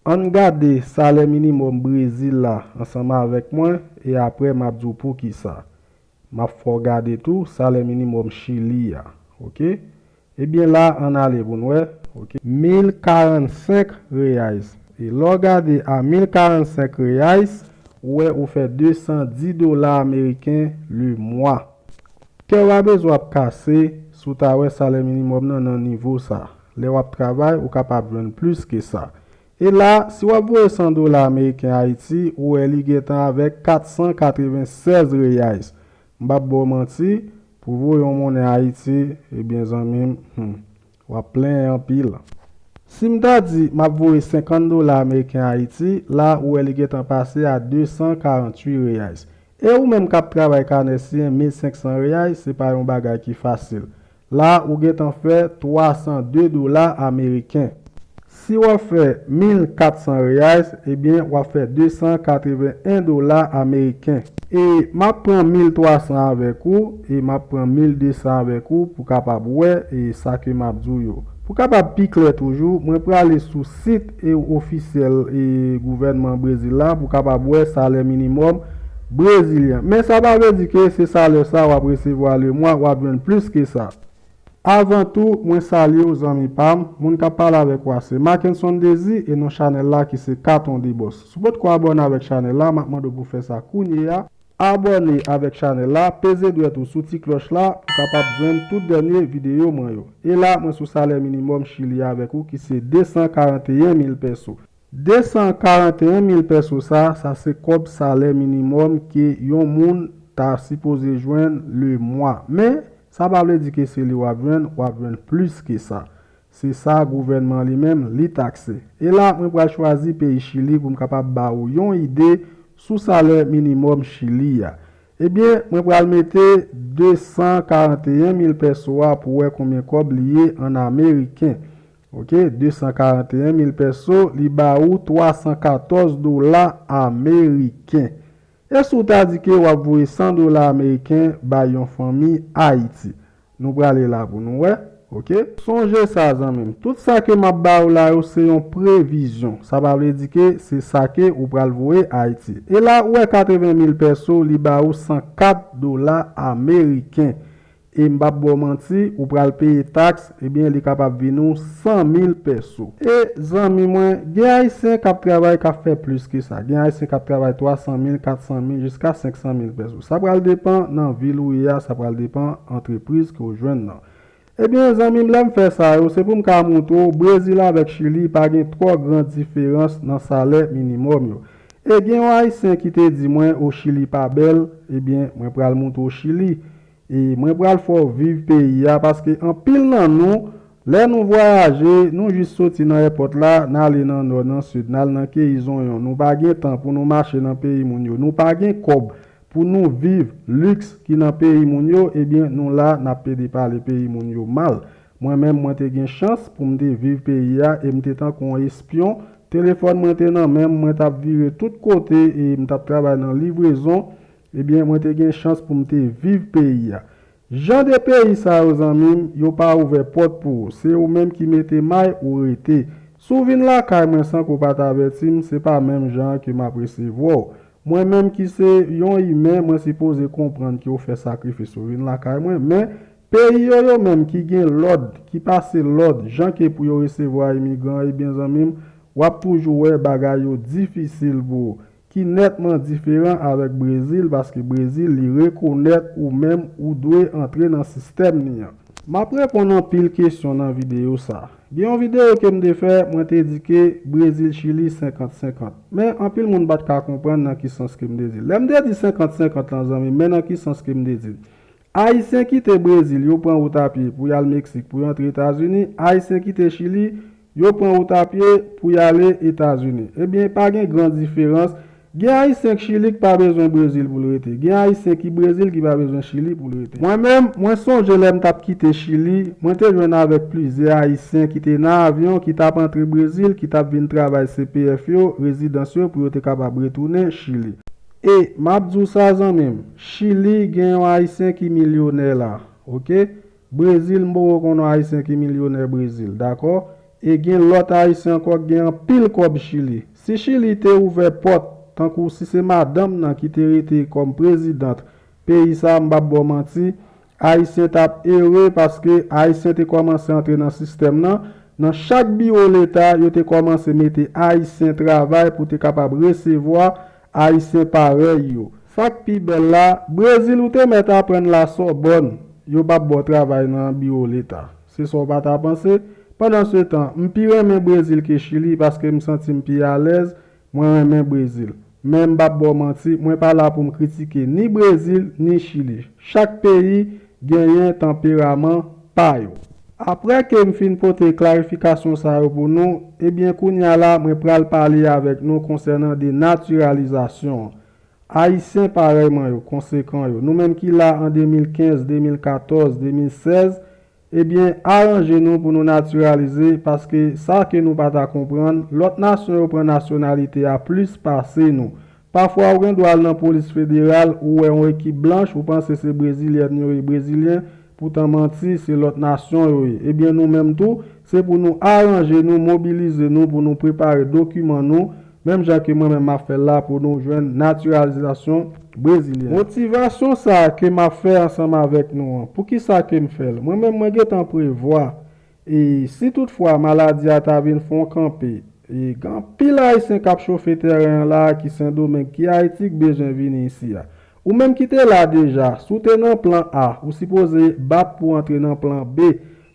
Ann gade salè minimòm Brezil la ansanm avèk mwen e apre m ap di w poukisa. M ap fè w gade tou salè minimòm Chili a. Ok. Ebyen la ann ale pou n wè. Ok. Mil karannsenk Reais. E lè w gade a mil karannsenk Reais, ou wè ou fè desan di dola ameriken lemwa. Kè w a bezwen ap kase si w ta wè salè minimòm nan nan nivo sa. Lè w ap travay, ou kapab jwenn plis ke sa. E la, si w ap voye 100 dola ameriken Ayiti, ou wè li gen tan avèk 496 reais. M p ap ba w manti, pou w voye yon monnen Ayiti, ebyen zanmi m, hum, w ap plenyen anpil. Si m ta di m ap voye 50 dola ameriken Ayiti, la, ou wè li gen tan pase a 248 reais. E ou menm k ap travay kanè siye 1500 reais, se pa yon bagay ki fasil. La ou gentan fè 302 dola ameriken. Si wap fè 1400 reais ebyen wap fè 281 dola ameriken. E map pran 1300 avèk ou e map pran 1200 avèk ou pou kapab wè e sa ke map di w yo. Pou kapab pi klè toujou mwen prale sou. sit ofisyèl gouvènman Brezil la pou kapab wè salè minimòm brezilyen an. Men sa pa vle di ke se salè sa wap resevwa le mwa, wap jwenn plis ke sa. Avan tou, mwen salye w zanmi pa m, moun kap pale avèk ou a se Mackenson Désir e non chanèl la ki se Katon Debòs. Si w pot ko abòne avèk chanèl la, map mande w pou fè sa kounye a. Abòne avèk chanèl la, peze dwèt ou sou ti klòch la pou kapab jwenn tout dènye videyo mwen yo. E la mwen sou salè minimòm Chili a avèk ou ki se 241 mil pèso. 241 mil pèso sa, sa se kòb salè minimòm ke yon moun ta sipoze jwenn le mwa. Men, sa pa vle di ke se li wap jwenn, wap jwenn plis ke sa. Se sa gouvènman li menm, li takse. E la, mwen pral chwazi peyi Chili pou m kapab ba ou yon ide sou salè minimòm Chili a. Ebyen, mwen pral mete 241 mil pèso a pou wè konbyen kòb li ye an ameriken. Ok, 241 mil pèso, li ba ou 314 dola ameriken. E si w ta di ke w ap voye 100 dola ameriken bay yon fanmi Ayiti? Nou prale la pou nou wè ok. Sonje sa zanmim tout sa ke map ba ou la yo se yon previzyon sa pa vle di ke se sa ke ou pral voye ayiti e la ou wè 80 mil pèso li ba ou 104 dola ameriken e m pap baw manti ou pral peye taks ebyen li kapab vin ou 100 mil pèso. E zanmi mwen gen ayisyen kap travay kap fè plis ke sa gen ayisyen kap travay 300 mil 400 mil jiska 500 mil pèso. Sa pral depan nan vil ou ye a sa pral depan antrepriz ke ou jwenn nan. Ebyen zanmim lèm fè sa yo se poum ka moutre w Brezil avèk Chili pa gen twò gran diferans nan salè minimòm yo. E gen yon ayisyen ki te di mwen o Chili pa bèl ebyen mwen pral moutre w Chili e mwen pral fè w viv peyi a paske anpil nan nou Lè nou vwayaje, nou jis soti nan èpòt la, n ale nan nò, nan sid, n al nan keyi zonyon, nou pa gen tan pou nou mache nan peyi moun yo, nou pa gen kòb pou nou viv liks ki nan peyi moun yo, ebyen nou la n ap pede pale peyi moun yo mal. Mwen menm mwen te gen chans pou m te viv peyi a e m te tankou yon espyon, telefòn mwen te nan men m, mwen t ap vire tout kote e m t ap travay nan livrezon, ebyen mwen te gen chans pou m te viv peyi a. Jan de peyi sa yo zanmim yo pa ouvè pòt pou ou se ou menm ki mete may ou rete si w vin lakay mwen san ke w pat avèti m se pa menm jan an ke map resevwa w mwen menm ki se yon imen mwen sipoze konprann ke w fè sakrifis ou vin lakay mwen men peyi yo yo menm ki gen lòd ki pase lòd jan ke pou yo resevwa imigran ebyen zanmim wap toujou wè bagay yo difisil pou ki nètman diferan avèk Brezil paske Brezil li rekonèt ou menm ou dwe antre nan sistèm ni an. Map reponn anpil kesyon nan video sa. Gen yon video kem te fè mwen te di ke Brezil Chili 50 50. Men anpil moun pat ka konprann nan ki sans kem te dil. Lèm te di 50 50 lan zanmim men nan ki sans kem te dil. Ayisyen kite Brezil yo pran wout a pye pou yal Meksik pou yo antre Etazini, Ayisyen kite Chili yo pran wout a pye pou yale Etazini. Ebyen pa gen gran diferans, gen Ayisyen k Chili k pa bezwen Brezil pou l rete, gen Ayisyen ki Brezil ki pa bezwen Chili pou l rete. Mwen menm, mwen sonje lè m tap kite Chili, mwen te jwenn avèk plizyè Ayisyen ki te nan avyon ki tap antre Brezil ki tap vin travay CPF yo, rezidans yo pou yo te kapab retounen Chili. E map di w sa zanmi m, chili gen yon ayisyen ki milyonè la ok, brezil m poko konn yon ayisyen ki milyonè brezil dakò, e gen lòt ayisyen ankò ki gen anpil kòb chili. Si chili te ouvè pòt tankou si se madanm nan ki te rete kòm prezidant peyi sa m pap ba w manti Ayisyen t ap ere paske Ayisyen te kòmanse antre nan sistèm nan. Nan chak biwo leta, yo te kòmanse mete Ayisyen travay pou te kapab resevwa Ayisyen parèy yo. Sa k pi bèl la, Brezil ou te mèt aprann Lasòbòn, yo p ap ba w travay nan biwo leta. Se sa w pa ta panse? Pandansetan, m pi renmen Brezil ke Chili paske m santi m pi alèz Mwen renmen Brezil. Men m pap ba w manti, mwen pa la pou m kritike ni Brezil ni Chili. Chak peyi genyen tanperaman pa yo. Aprè ke m fin pote klarifikasyon sa yo pou nou, ebyen kounye a la mwen pral pale avèk nou konsènan denatiralizasyon an. Ayisyen parèy mwen yo, konsekan yo, nou menm ki la an 2015, 2014, 2016, Ebyen aranje nou pou nou natiralize paske sa ke nou pa ta konprann lòt nasyon yo pran nasyonalite a plis pase nou. Pafwa ou gen dwa al nan polis federal ou wè yon ekip blanch ou panse se brezilyèn yo ye brezilyen poutan manti se lòt nasyon yo ye. Ebyen nou menm tou se pou nou aranje nou mobilize nou pou nou prepare dokiman nou Menm jan ke mwen menm map fèl la pou nou jwenn naturalizasyon brezilyen. Motivasyon sa ke map fè ansanm avèk nou an, poukisa kem fèl? Mwen menm mwen gentan prevwa e si tout fwa maladi a ta vin fon kanpe e gen anpil ayisyen kap chofe tèren an la ki sendomeng ki ayiti k bezwen vini isi a. Ou menm ki te la deja, si w te nan plan A, ou sipoze bat pou antre nan plan B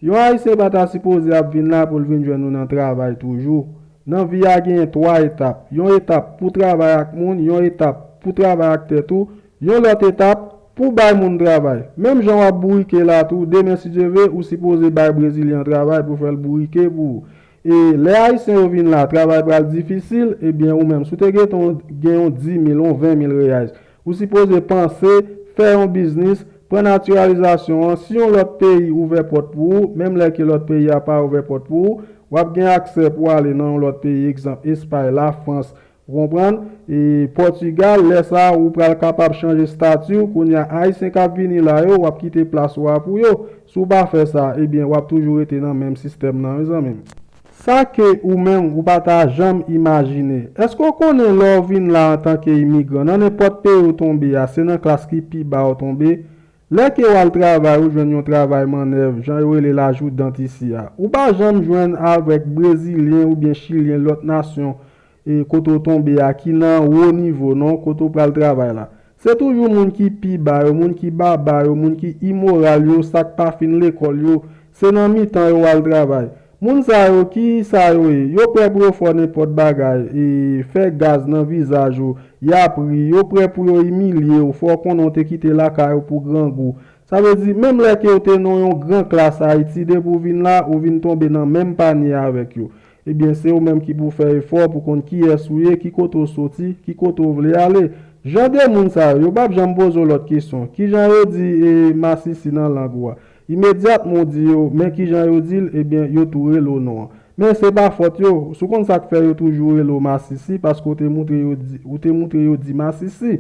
Yon ayisyen pa ta sipoze ap vin la pou l vin jwenn ou nan travay toujou. Nan vi a genyen 3 etap, yon etap pou travay ak moun, yon etap pou travay ak tèt ou, yon lòt etap pou bay moun travay. Menm jan w ap bourike la tou, demen si Dye ve, ou sipoze bay brezilyen an travay pou fè l bourike pou ou. E lè ayisyen yo vin la, travay pral difisil, ebyen ou menm si w te gen ton gen yon 10 mil, yon 20 mil reyais, Ou sipoze panse, fè yon biznis, pran natiralizasyon an, si yon lòt peyi ouvè pòt pou ou, menm lè ke lòt peyi a pa ouvè pòt pou ou, wap gen aksè pou ale nan yon lòt peyi, egzanp, Espay, Lafrans, ou konprann, e Pòtigal, lè sa a ou pral kapab chanje stati ou, kounye a Ayisyen kap vini la yo, wap kite plas ou a pou yo, si w pa fè sa, ebyen wap toujou rete nan menm sistèm nan wi zanmi m. Sa ke ou menm ou pa ta janm imajine. Èske ou konnen lè ou vin la antanke imigran, nan nenpòt peyi ou tonbe a, se nan klas ki pi ba ou tonbe? Lè ke ou al travay, ou jwenn yon travay mannèv, jan yo rele l ajoudant isi a. Ou pa janm jwenn avèk Brezilyen oubyen Chilyen lòt nasyon E kote w tonbe a ki nan wo nivo non, kote w pral travay la. Se toujou moun ki pi ba yo, moun ki baba yo, moun ki imoral yo, sa k pa fin lekòl yo, se nan mitan yo w al travay. Moun sa yo, ki sa yo ye? Yo prè pou yo fè w nenpòt bagay, e, fè gaz nan vizaj ou, y ap ri, yo prè pou yo imilye w, fè w konnen w te kite lakay ou pou grangou. Sa vle di, menm lè ke w te nan yon gran klas Ayiti, depi w vin la, ou vin tonbe nan menm panye avèk yo. Ebyen se ou menm ki pou fè efò pou konn kiyès ou ye, ki kote ou soti, ki kote ou vle ale. Jan de moun sa yo, yo pap janm poze w lòt kesyon. Kijan yo di e masisi nan lang ou a? Imedyatman ou di yo, men kijan yo di l, ebyen yo tou rele w non an. Men se pa fòt yo. Si w konn sa k fè yo toujou rele w masisi, paske ou te moutre yo di, ou te moutre yo di masisi.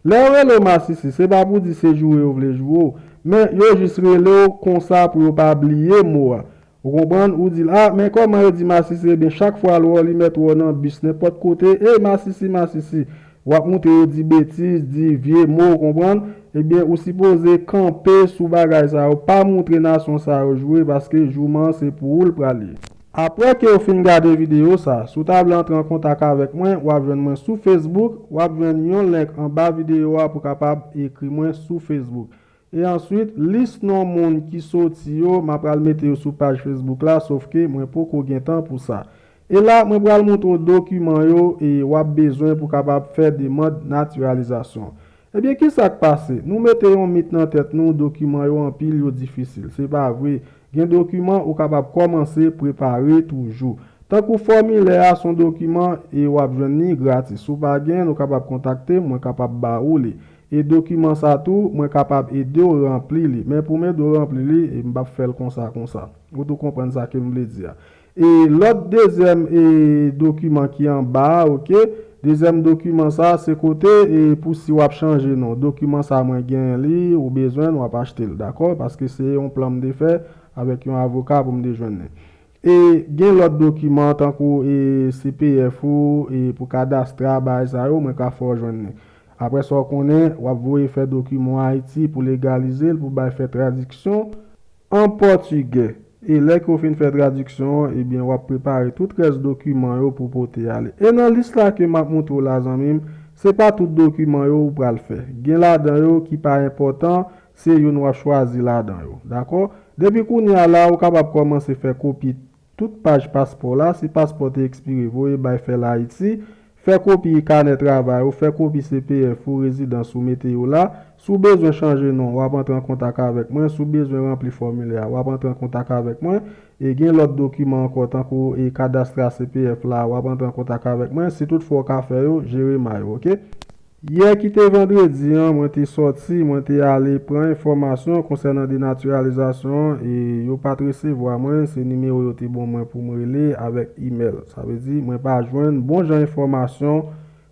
Lè yo rele w masisi, se pa pou di se joure yo vle joure w. Men yo jis rele w konsa pou yo pa bliye mo a. Ou konprann, ou di l, ah men kòman yo di masisi ebyen chak fwa l wè w li mèt wè w nan bis nenpòt kote, ey masisi masisi, w ap moute yo di betiz, di vye mo ou konprann, ebyen ou sipoze kanpe sou bagay sa yo, pa moutre nasyon sa yo joure paske jouman an se pou ou l pral ye. Aprè ke w fin gade videyo sa, si w ta vle antre an kontak avèk mwen, w ap jwenn mwen sou Facebook, w ap jwenn yon link anba videyo a pou kapab ekri mwen sou Facebook. E answit lis non moun ki soti yo ma pral mete yo sou paj Facebook la sof ke mwen poko gen tan pou sa. E la mwen pral moutre w dokiman yo e wap bezwen pou kapab fè demand natiralizasyon. Ebyen kisak pase? Nou mete yon mit nan tèt nou dokiman yo anpil yo difisil. Se pa vre. Gen dokiman ou kapab komanse prepare toujou. Tankou fòmilè a son dokiman e wap jwenn li gratis. Si w pa gen l ou kapab kontakte m mwen kapab ba ou li. E dokiman sa tou, mwen kapab ede w ranpli li. Men pou m ede w ranpli li, e m p ap fè l konsa konsa. Ou tou konprann sa ke m vle di a. E lòt dezyèm e dokiman ki anba a, ok, dezyèm dokiman sa a, se kote e pou si w ap chanje non. Dokiman sa a mwen genyen li, ou bezwen l, w ap achte l. Dakò? Paske se yon plan m te fè avèk yon avoka pou m te jwenn li. E gen lòt dokiman tankou e cpf ou e pou kadastra bagay sa yo mwen ka fè w jwenn li. Aprè sa w konnen w ap voye fè dokiman Ayiti pou legalize l pou bay fè tradiksyon an pòtigè. E lè ke w fin fè tradiksyon an ebyen w ap prepare tout rès dokiman yo pou w pote ale. E nan lis la ke m ap moutre w la zanmi m se pa tout dokiman yo ou pral fè. Gen ladan yo ki pa enpòtan Se youn w ap chwazi ladan yo. Dakò? Depi kounye a la, ou kapab kòmanse fè kopi tout paj paspò la, si paspò te ekspire, voye bay Fèl Ayiti, fè kopi kanè travay ou, fè kopi CPF ou, rezidans ou, mete yo la. Si w bezwen chanje non, w ap antre an kontak avèk mwen. Si w bezwen ranpli fòmilè a, w ap antre an kontak avèk mwen. E gen lòt dokiman ankò, tankou e kadastra CPF la, w ap antre an kontak avèk mwen. Si toutfwa ou ka fè yo, Jeremiah. Ok? Yè ki te vandredi an, mwen te sòti, mwen te ale pran enfòmasyon konsènan denatiralizasyon an e yo pa t resevwa mwen, se nimewo yo te bon mwen pou m rele avèk imèl. Sa vle di, mwen pa jwenn bon jan enfòmasyon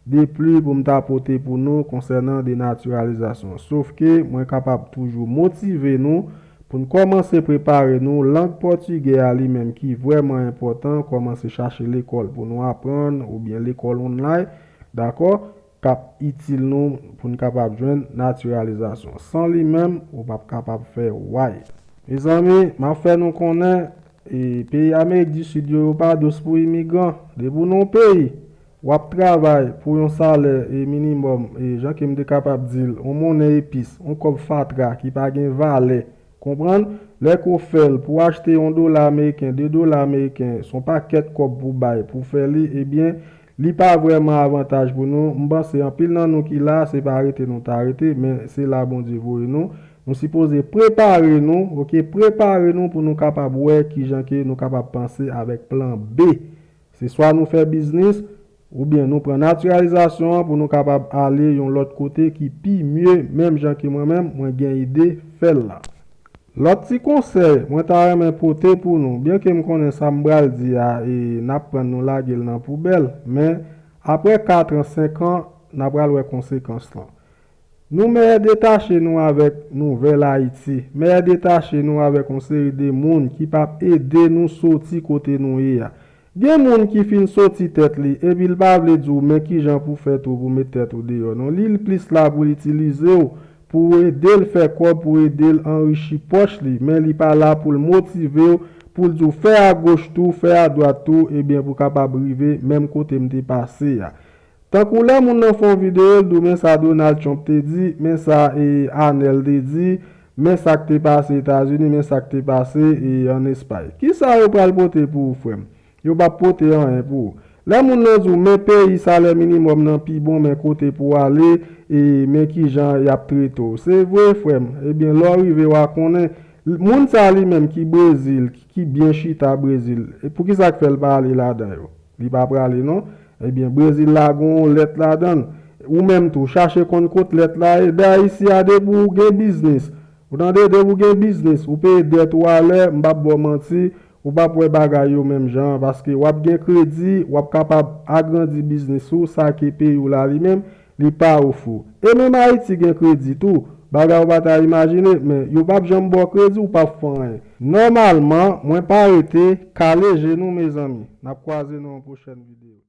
depli pou m ta pote pou nou konsènan denatiralizasyon. Sof ke mwen kapab toujou motive nou pou n kòmanse prepare nou, lang pòtigè a li menm ki vrèman enpòtan, kòmanse chache lekòl pou nou aprann oubyen lekòl online, Dakò, k ap itil nou pou n kapab jwenn natiralizasyon. San li menm, ou p ap kapab fè way. Mezanmi, m ap fè nou konnen, peyi Amerik di Sid yo, yo pa dous pou imigran. Depi ou nan yon peyi, w ap travay pou yon salè minimòm, jan ke m te kapab di l, yon monnen epis, yon kòb fatra ki pa gen valè. Konprann? Lè ke w fè l, pou w achte yon dola ameriken, de dola ameriken, se yon pakèt kòb pou w bay pou w fè li, ebyen, Li pa vrèman avantaj pou nou, m panse anpil nan nou ki la se pa rete nou ta rete men se la Bondye voye nou, nou sipoze prepare nou ok prepare nou pou nou kapab wè kijan ke nou kapab panse avèk plan B se swa nou fè biznis oubyen nou pran natiralizasyon an pou nou kapab ale yon lòt kote ki pi mye menm jan ke mwen menm mwen gen ide fèl la. Lòt ti konsèy mwen ta renmen pote pou nou, byenke m konnen sa m pral di a e n ap pran nou lage l nan poubèl, men aprè katran, senkan, n a pral wè konsekans lan. Nou mèyè detache nou avèk nouvèl Ayiti, mèyè detache nou avèk yon seri de moun ki p ap ede nou soti kote nou ye a. Gen moun ki fin soti tèt li epi l pa vle di w men kijan pou fè tou pou met tèt ou deyò non li l plis la pou l itilize w pou w ede l fè kòb pou w ede l anrichi pòch li men li pa la pou l motive w pou l di w fè agoch tou fè adwat tou ebyen pou kapab rive menm kote m te pase a Tankou lè moun nan fè yon video l diw men sa Donald Trump te di, men sa e Anel te di, men sak te pase Etazini, men sak te pase e an Espay. Kisa yo pral pote pou ou frèm? Yo pap pote anyen pou ou. Lè moun nan diw men peyi salè minimòm nan pi bon men kote pou ale e men kijan yap trete w. Se vre frèm. Ebyen lè w rive wa konnen. Moun sa li menm ki Brezil, ki byen chita Brezil, poukisa k fè l pa ale ladan yo? Li pa prale non. Ebyen Brezil la gon yon lèt ladanl. Ou menm tou chache konn kot lèt la ye. Dè ayiti a depi ou gen biznis. Ou tande depi ou gen biznis ou peye dèt ou alè m pap baw manti ou pap wè bagay yo menm jan an paske wap gen kredi wap kapab agrandi biznis ou sa ki peyi w la li menm Li pa ou fou. E menm Haiti gen kredi tou. Bagay ou pa ta imajine, men yo pap janm baw kredi ou pap fon anyen. Nòmalman mwen pa rete, kale je nou mezanmi. Nap kwaze nan yon pwochèn video. Tcha.